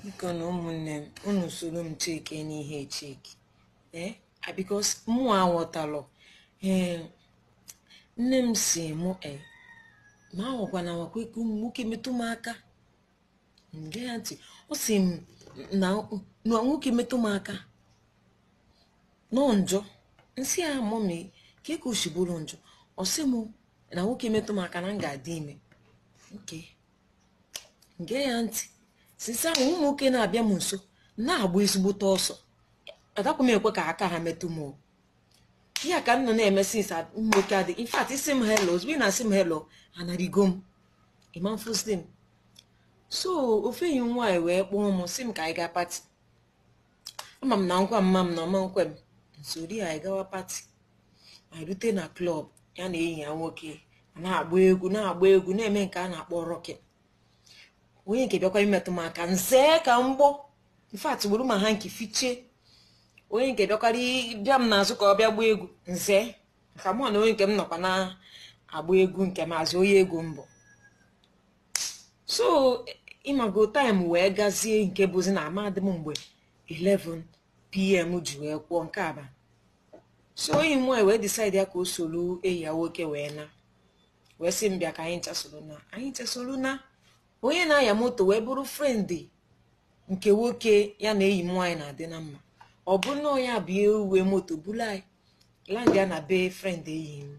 biko nụ ụmụnne m unu soro m chekie n'ihe chekie ee eh, ah, because mụ aghọtarọ ee eh, nne m sị mụ e eh, m anwakwana nwakwa ikwe ụmụ nwoke metụ m aka m gee ya ntị ọ sị m na nwoke metụ m aka na ọ njọ m sị ya mummy kee ka o shi bụrụ njọ ọ sị m na nwoke metụ m aka na m ga-adị ime okay m gee ya ntị since ahụ ụmụ nwoke na-abịa m nso na-agba ezigbote ọsọ adakwa m ekwe ka aka ha metụ m o. ya ka m nọ na-eme since ụmụ nwoke adị in fact ị sị m hello ozugbo ị na-asị m hello anarigo m ị ma-afụzi m so ofu enyi m nwaanyị wee kpọọ m sị m ka anyị gaa party ama m na m gwa mama m na ọ ma-ekwe m m zoori anyị gawa party anyị rute na club ya na enyi ya nwoke na-agba egwu na-agba egwu na-eme nke a na-akpọ rocking onye nke bịakwa imetụ m aka m zee ka mgbọ in fact buru ma hanky fichie onye nke bịakwara bịa m n'azụ ka ọ bịa gbaa egwu m zee ka mụ na onye nke m nọkwa na-agba egwu nke m as in onye egwu m bụ so ịmago time wee gazie nke bụzi na amadị m mgbe 11 pm ji wee kụọ nke aba so enyi m nwaanyị wee decide ya ka o soro enyi ya nwoke wee naa wee sị m bịa ka anyị ncha soro naa anyị ncha soro naa onye na-anya moto wee bụrụ friend nke nwoke ya na enyi m nwaanyị na-adị na mma ọ bụrụ na onye a bụ ya nwe moto buru anyị landịa na be friend enyi m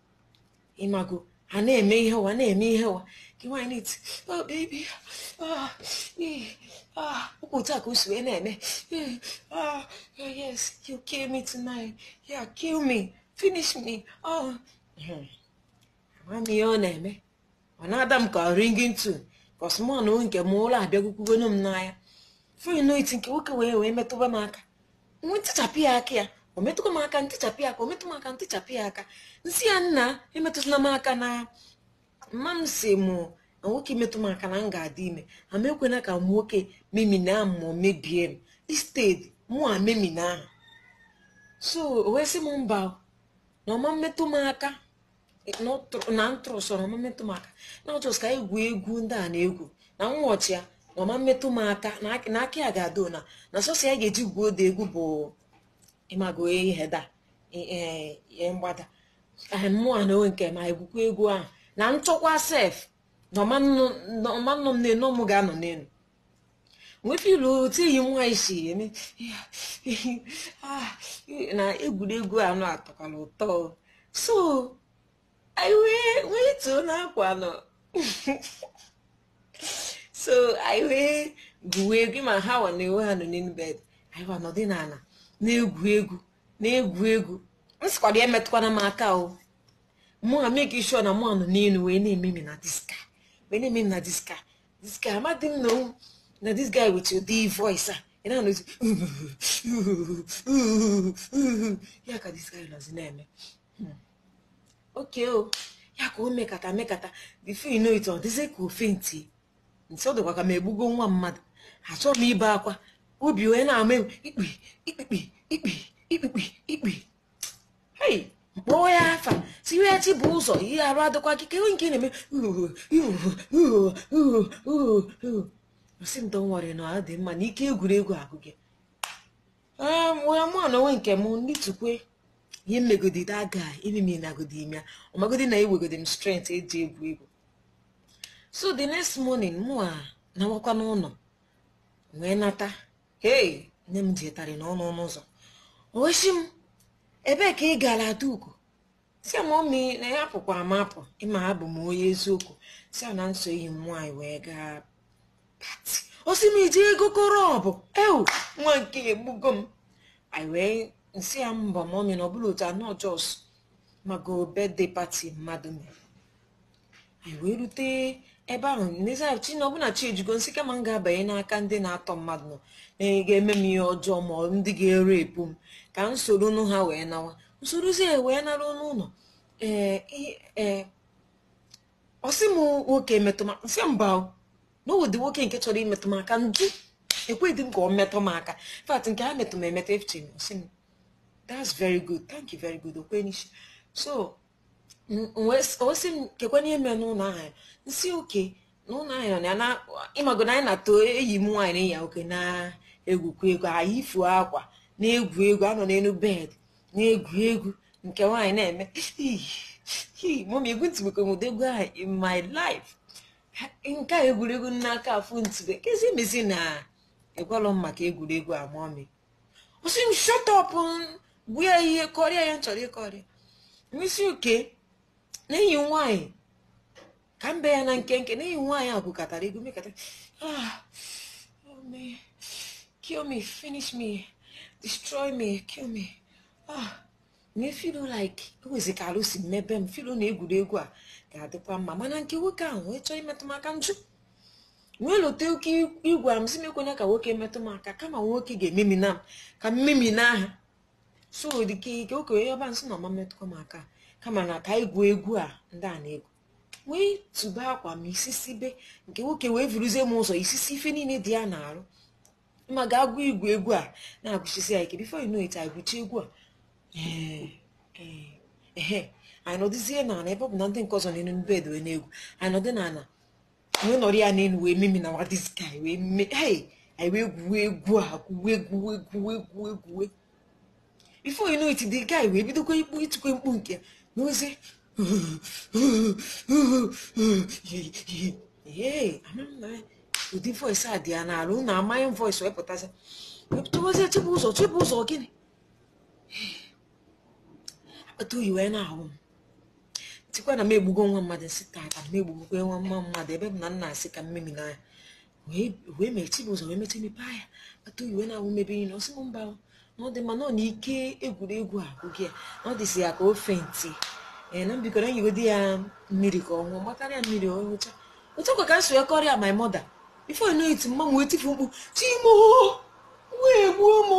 ịmago ha na-eme ihe ụwa na-eme ihe ụwa nke nwaanyị na-eti oh baby ah ee ah ọ kwa otu a ka o si wee na-eme ee ah oh, yes you kill me tonight yeah kill me finish me oh ama m ihe ọ na-eme ọ na-ada m ka ringing tone cos mụ na nke m ụra abịagwukwugonu m n'anya before I know it nke nwoke wee wee metụba m aka m wee tichapụ ya aka ya o metụkwa m aka m tichapụ ya aka o metụ m aka m tichapụ ya aka m sị ya nna emetụzila m aka na mama m sị mụ na nwoke metụ m aka na m ga-adị ime na m ekwena ka nwoke memina m ma ọ mebie m instead mụ a memina ahụ so o wee sị m mba o, na ọ ma-emetụ m aka na m trustuo na ọ ma-emetụ m aka na ọ just ka e gwuo egwu ndị a na-egwu na nwata na ọ ma-emetụ m aka na aka ya ga-adị na na sọsọ ihe a ga-eji gwuo ụdị egwu bụ ịmago ihe dị na mgbada mụ na onwe nke m egwukwa egwu ahụ na m chọkwa sef na ọ ma-anọ m n'enu ọ mụ ga-anọ n'enu m wee feel otu enyi m nwaanyị si eme na egwuregwu anụ atọkwara ụtọ so anyị wee wee too n'akwa nọ so anyị wee gwuo egwu ma ha wa na-ewe ha nọ n'elu bed anyị wa nọdị n'ala na-egwu egwu na-egwu egwu m sịkwara ya emetụkwana m aka o mụ a make sure na mụ anọ n'elu wee na-ememi na this guy this guy amadị m na na this guy nwere ụdị voice a ị na-anụzi ya ka this guy nọzi na-eme hmm. oke o oh. ya ka o mekata mekata before you know it ọ dịzi ka ọ faintie m sị ọ dịkwa ka m egbugo nwa mmadụ achọ m ibe akwa obi wee na-ama ikpi ikpi ikpi ikpi ikpi kpọọ ya afa sị ya chibụzọ ihe arụ adịkwa gị kewe nke na-eme sị m don't worry na ọ dị mma na ike egwuregwu agwụgo ya mụwa na onwe nke m ndị tukwe ihe m megodi daga imimi nagodi ime ọmagodi na enwegodi m strength e ji egwu egwu so the next morning mụ a nawakwa n'ụlọ wee nata hei nne m jetarị n'ọnụ ọnụ ụzọ o wee sị m ebee ka ị gara adaugo sị ya mọmi na apụkwara m apụ ị ma abụ m onye eziokwu sị ya na m so enyi m nwaanyị wee gaa party ọ sị m iji ego koro ọ bụ ewoo nwa nke a egbugo m anyị wee m sị ya mba mọmi na ọ bụrọ otu anụ just mago birthday party mmadụ mere anyị wee rute ebe ahụ n'ezi ahụ chi na ọbụna chi ejigo m sị kama m ga-abanye n'aka ndị na-atọ mmadụ nọ ga-eme m ihe ọjọọ ma ọ ndị ga-erape m ka m soro nụ ha wee nawa m sorozi ya wee naruo n'ụlọ ee i- ee ọ sị m nwoke metụ m m sị mba o na ụdị nwoke nke chọrọ imetụ m aka m jụ ekweghị m ka ọ metụ m aka fact nke ha metụ m emeta efuchi m ọ sị m that's very good thank you very good okwenisi so o wee sị m kekwa ihe mere n'ụlọ ahụ m sị okay na ụlọ ahụ nọ na ya na ịmago na anyị na otu enyi m nwaanyị na ya okay na-egwukwa egwu anyị ifu akwa na-egwu egwu ha nọ n'elu bed na-egwu egwu nke nwaanyị na-eme mọmi egwutụbeghị m egwu ahụ in my life nke a egwuregwu na-aka afụtụbe kezi ihe mezi na ị gwalọ m maka egwuregwu a mọmi ọ sị m shut up gwa ya ihe kọrịa ihe m chọrọ ịkọrịa m sị okay na enyi nwaanyị ka m bee ya na nkenke na enyi nwaanyị a gwukatara egwu mekata ah oh me kill me finish me destroy me kill me ah m na-afeel like ewezi ka arụ si emebe m feelu na egwuregwu a ga-adịkwa mma mana nke nwoke ahụ wee chọọ imetụ m aka m jụ wee lote oke igwe m sị m ekwena ka nwoke metụ m aka kama nwoke ga-ememina m ka m memina ya so the guy kwe okay onye ọba m sị na ọ ma metụkwa m aka kama na ka e gwuo egwu a ndị a na-egwu wee tụba akwa m isisi be nke nwoke wee vuruzie m ụzọ isisi ife niile dị ya n'arụ ma gawa igwu egwu a na-egwusisi ya ike before you know it anyị gwuchi egwu a ehe anyị nọdụzie n'ana ebe ọ bụ na ndị nke ọzọ n'elu bed wee na-egwu anyị nọdụ n'ana wee nọrọ ya n'elu wee memina nwa this guy wee mee anyị wee gwuo egwu a gwuwe gwuwe gwuwe gwuwe gwuwe before you know it the guy wee bidokwa ikpu itikwa mkpu nke n'ozi ụdị voice a dị ya n'ala unu amaghị m voice o wepụtazi wepụtawazie Chibụzọ Chibụzọ gịnị akpata oyi wee na-awụ m m tikwa na m egbugo nwa mmadụ m sị taata m egbugokwa nwa mma mmadụ ebe m nọ na-asị ka m memina ya wee mee Chibụzọ wee mechaa mepe anya akpata oyi wee na-awụ m ebe ihe na ọ sị m mba na ọ dị mma na ọ na ike egwuregwu a gwụ ya na ọ dịzị ya ka ọ faintị ee na m biko nyegodi ya mmiri ka ọ ṅụọ m gbatara ya mmiri ọ ṅụcha otu a kwa ka m si wee kọọrọ ya my mother before you know it mama m wee tifu mkpu Chi m o nwa egbuo m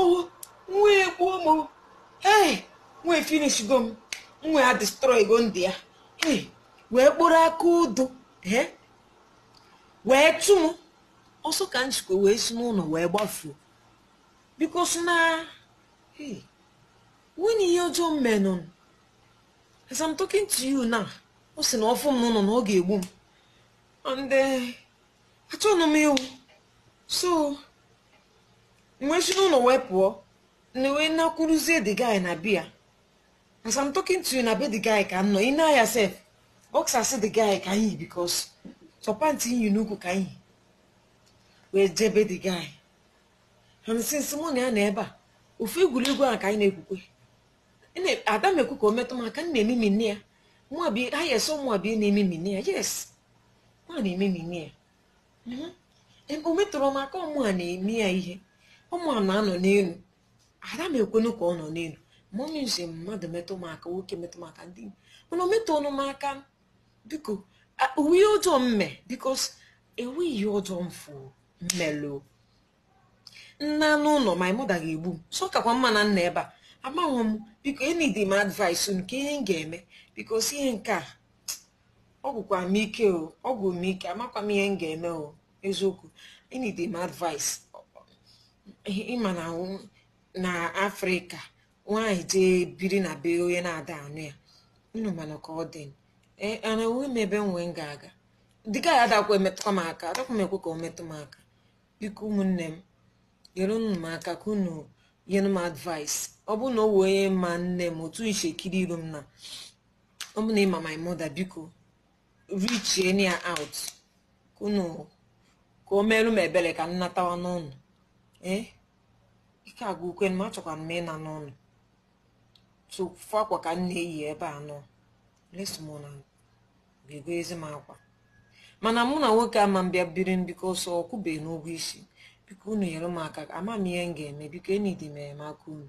nwa egbuo m ee nwa efinishgo m nwa a adestroygo ndụ ya ee wee kpụrụ aka odo ee wee chụ m ọsọ ka m jikwa wee si n'ụlọ wee gbafuo because na o nwenụ ihe ọjọọ m menụ as I'm talking to you now ọ sị na ọ fụ m n'ụlọ na ọ ga-egbu m and eh, achọghị m ịnwụ so m wee si n'ụlọ wee pụọ now wee nakwuruzie the guy na be ya as i'm talking to you na be the guy ka m nọ i nee anya sef boxers the guy ka m yi because sọ pant m yi n'ukwu ka m yi wee jee be the guy and since mụ na ya nọ ebe a ofu egwuregwu ahụ ka anyị na-egwukwa Ene- ada m ekwe ka o metụ m aka m na-ememina ya mụa bi ha yes mụa bụ na-ememina ya yes mụa na-ememina ya Mhm. Em, o metụrọ m aka ọ mụa na-eme ya ihe ọ mụa na-anọ n'elu ada m ekwenu ka ọ nọ n'elu mummy m sị mmadụ metụ m aka nwoke metụ m aka ndị mana o metụrọnụ m aka biko o nwe ihe ọjọọ m me because enwe ihe ọjọọ m fụ m melụ m naa n'ụlọ my mother ga-egbu m so ọ kakwa mma na m nọ ebe a amaghị m biko nyedi m advice nke ihe m ga-eme because ihe nke a ọ gwụkwa m ike o ọ gwụ m ike amakwa m ihe m ga-eme o eziokwu enidi m advice ị ma na awụ- na afrịka nwaanyị jee biri na be onye na-ada anụ ya unu mana ka ọ dị Ee, ana enwe m ebe nwee m ga-aga the guy adakwa emetụkwa m aka adakwa m ekwe ka o metụ m aka biko ụmụnne m nyerenụ m aka ka unu nyere m advice ọ bụrụ na o nwee onye ma nne m otu i shi kiri iru m na ọ bụ na ị ma my mother biko reachienụ ya out ka unu ka o meelu m ebere ka m natawa n'ụlọ ee ike agwụkwa m achọkwa m ịna n'ụlọ ofu akwa ka m na-eyi ebe a unless someone ga-egozi m akwa mana mụ na nwoke ama m bịa biri m because ọ kwụbeghị m ụgwọ isi biko unu nyere m aka ama m ihe m ga-eme biko enidi m enyemaka unu